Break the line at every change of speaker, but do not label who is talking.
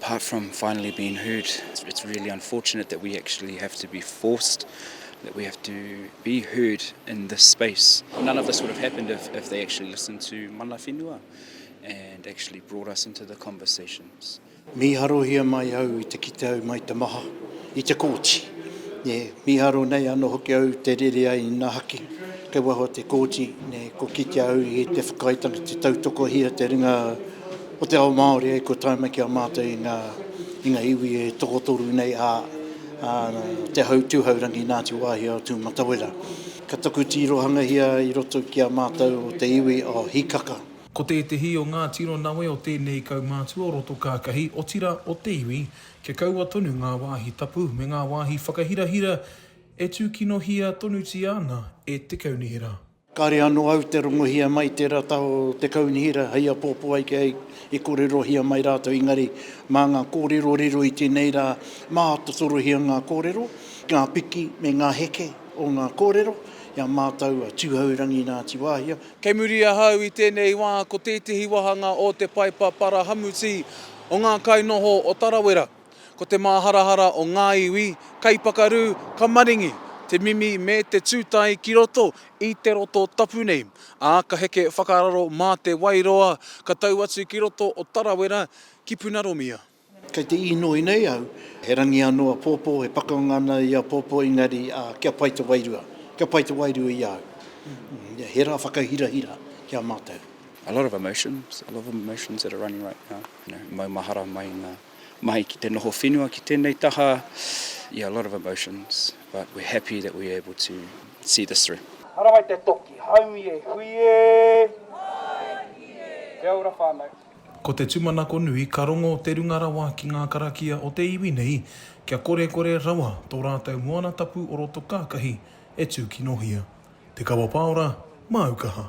Apart from finally
being heard, it's really unfortunate that we actually have to be forced, that we have to be heard in this space. None of this would have happened if, if they actually listened to Mana Whenua and actually brought us into the conversations. Mīharohia
mai au i te kite au mai te maha, i te kōti. Ne, mīharo nei ano hoki au te rere ai ina haki, kei waho te kōti, ne, ko kitea au i te whakaaetanga te tautokohia te ringa Ko te ao Māori e kua tae mai ki a mātou i ngā, i ngā iwi e tokotoru nei a, a Te Hau Tūhaurangi Ngāti Wāhia o Tūmatawera. Ka taku tīrohangahia i roto ki a mātou o te iwi o Hikaka. Ko tētehi o
ngā tiro nawe o tēnei kaumātua o roto kākahi, otira o te iwi, kia kaua tonu ngā wāhi tapu me ngā wāhi whakahirahira e tūkinohia tonutia ana e te Kaunihera. Kāre anō au
te rongohia mai tērā taha o te kaunihera hei apōpō ai kia i kōrerohia mai rātou engari mā ngā kōrero riro i tēnei rā mā te torohia ngā kōrero, ngā piki me ngā heke o ngā kōrero i a mātou a Tūhourangi Ngāti Wāhia. Kei muri ahau
i tēnei wā ko tētehi wāhanga o te Paepa Parahamuti o ngā kainoho o Tarawera. Ko te māharahara o ngā iwi, kaipakarū, ka maringi te mimi me te tūtae ki roto i te roto tapu nei, ā, ka heke whakararo mā Te Wairoa, ka tau atu ki roto o Tarawera ki Punaromia. Kei te īnoi
nei au, he rangi anō apōpō, he pakanga ana i apōpō, engari kia pai te wairua, kia pai te wairua i a au. He rā whakahirahira ki a mātou. A lot of emotions,
a lot of emotions that are running right now, you know, maumahara mai i ngā. mahi ki te noho whenua ki tēnei taha, yeah a lot of emotions but we're happy that we're able to see this through. Harawai te toki,
haumi e hui e! Haumi e! Kia ora whanau. Ko te tumanako
nui ka rongo te runga rawa ki ngā karakia o te iwi nei kia korekore rawa tō rātou moana tapu o roto kākahi e tūkinohia. Te Kawa Pāora, māu kaha.